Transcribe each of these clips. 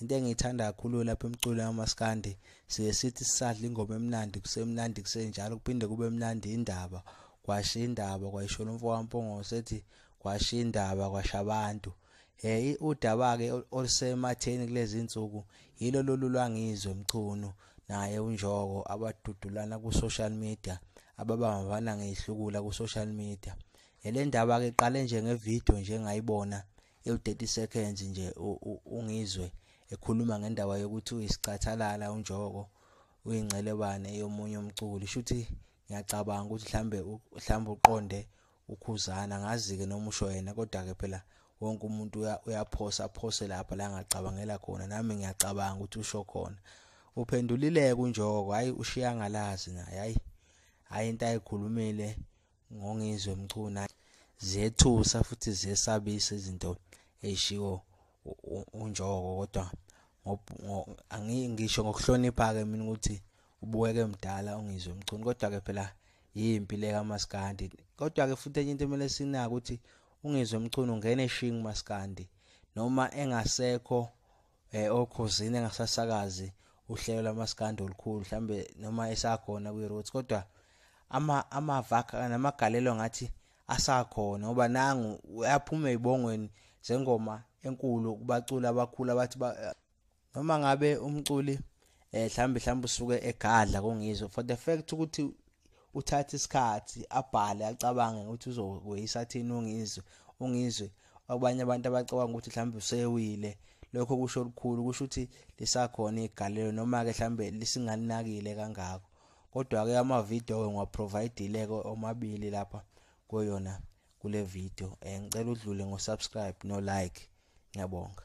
into engiyithanda kakhulu lapha emculo yamaskandi siye sithi sisadla ingoma emnandi kusemnandi kusenjalo kuphinde kube mnandi indaba kwasha indaba kwayishona umfokampongose ethi kwasha indaba kwasha abantu hey udaba-ke olusematheni kulezi nsuku yilo lolu lwangizwe mchunu naye unjoko abadudulana ku-social media ababambana ngeyihlukula ku-social media le ndaba-ke iqale nje ngevidiyo nje ngayibona ewu 30 seconds nje ungizwe ekhuluma ngendaba yokuthi uyisicathalala unjoko uyingcelebane yomunye umculi shuthi ngiyacabanga ukuthi mhlambe mhlambe uqonde ukhuzana ngazi ke noma usho yena kodwa ke phela wonke umuntu uyaphosa aphose lapha la ngacabangela khona nami ngiyacabanga ukuthi usho khona uphendulile kunjoko hayi ushiyangalazi naye hayi hayi into ayikhulumile ngongizwe mchuna zethusa futhi zesabisa izinto eshiwo unjoko kodwa angisho ngokuhlonipha ke mina ukuthi ubukeke mdala ungizwe mchunu kodwa ke phela yimpi le kamaskandi kodwa ke futhi enye into emele sinaka ukuthi ungizwe mchunu ngene shing maskandi noma engasekho eh okhosini engasasakazi uhlelo lamaskandi olukhulu mhlambe noma esakhona kwi roots kodwa ama amavaka namagalelo ngathi asakhona ngoba nangu uyaphuma ezibongweni zengoma enkulu kubaculi abakhulu abathi noma ngabe umculi eh mhlambi mhlambi usuke egadla kongizwe for the fact ukuthi uthatha isikhathi abhale acabange ukuthi uzokweyisa thina ungizwe ungizwe abanye abantu abacabanga ukuthi mhlambi usewile lokho kusho lukhulu kusho ukuthi lisakhona igalelo noma ke mhlambe lisingalinakile kangako kodwa ke ama video ke ngiwaprovidile ke omabili lapha koyona kule video eh ngicela udlule ngo subscribe no like ngiyabonga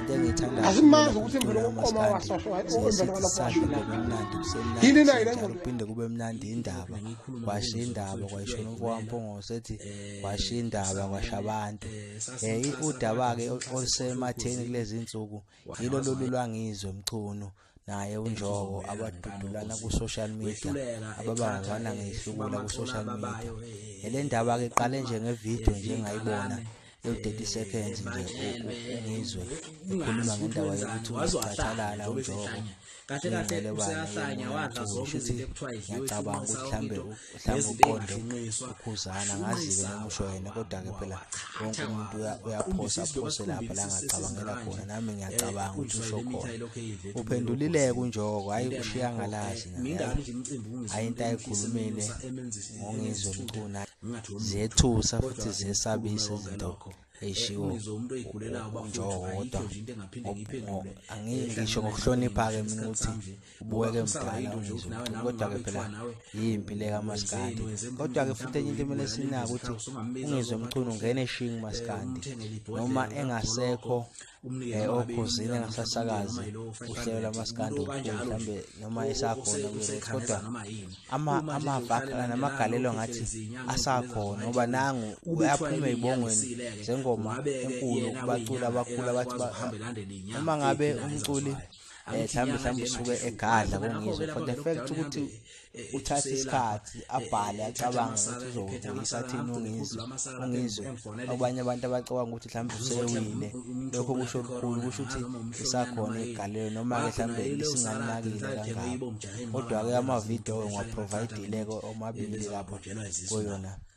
into engiyithandayo asimazi ukuthi emveni kokuqoma wasosho emveni kwalokho kumnandi yini nayo le ngqondo uphinde kube mnandi indaba kwasha indaba kwayishona umfowampongose ethi kwasha indaba kwasha abantu um udaba-ke olusematheni kulezi nsuku yilo lolu lwangizwe mchunu naye unjoko abadudulana ku social media ababangana ngehlukula ku social media le ndaba ke qale nje nge video nje ngayibona ewu-30 seconds nje ngizwe ukhuluma ngendaba yokuthi wazocathalala unjoko kahle kahle useyahlanya wadla zonke izinto ekuthiwa idliwe ngiyacabanga ukuthi mhlawumbe nezibengahlinqiswa ukhuzana ngazi-ke noma usho yena kodwa-ke phela wonke umuntu uyaphosa aphose lapha la ngacabangela khona nami ngiyacabanga eh, ukuthi usho khona uphendulileke unjoko hhayi ushiya ngalazi hhayi into ayikhulumile ngongizwe mcuna zethusa futhi zesabise izinto eyishiwounizwa umuntu oyigulelayo bafuthayikho nje into engaphinde ngiyiphendule angisho ngokuhlonipha-ke mina ukuthi ubuweke mdala kodwa-ke phela yimpi le kamaskandi kodwa-ke futhi enye into kumele sinako ukuthi ungizwe mchunu ungene shingi maskandi noma engasekho Eh, okhuzini engasasakazi uhlelo lamaskandi mhlawumbe noma esakhona kodwa amavaka namagalelo ngathi asakhona ngoba nangu uyaphuma ey'bongweni zengoma enkulu kubaculi abakhulu abathi noma ngabe umculi um mhlawumbe mhlawumbe usuke egadla kungizwe for the fact ukuthi eh, uthatha isikhathi eh, abhale eh, acabange ukuthi uzokubuyisa thini ungizwe ungizwe abanye abantu abacabanga ukuthi mhlawumbe usewile lokho kusho lukhulu kusho ukuthi isakhona igalelo noma-ke mhlawumbe lisingalinakile kangako kodwa-ke amavidiyo ngiwaprovidile-ko omabili lapho kuyona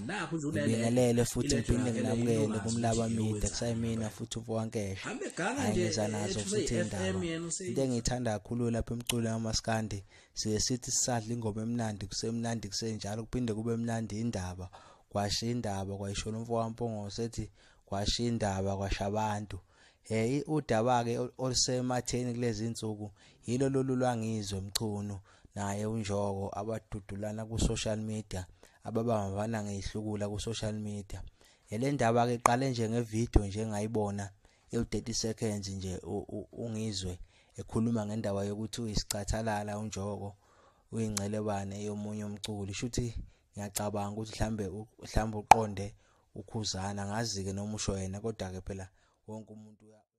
ngibingelele futhi ngiphinde nginamukele kumlaba mide kusayimina futhi ubuwankesha hayi ngiza nazo futhi indaba into engiyithanda kakhulu lapha emculo yamaskandi siye sithi sisadla ingoma emnandi kusemnandi kusenjalo kuphinde kube mnandi indaba kwasha indaba kwayishona umfowampongose ethi kwasha indaba kwasha abantu hey udaba-ke olusematheni kulezi nsuku yilo lolu lwangizwe mchunu naye uNjoko abadudulana ku-social media ababambana ngeyihlukula ku-social media yale ndaba ke iqale nje ngevidiyo nje engayibona ewu-30 seconds nje ungizwe ekhuluma ngendaba yokuthi uyisicathalala uNjoko uyingcelebane yomunye umculi shuthi ngiyacabanga ukuthi mhlambe mhlambe uqonde ukhuzana ngazi-ke noma usho yena kodwa-ke phela wonke umuntu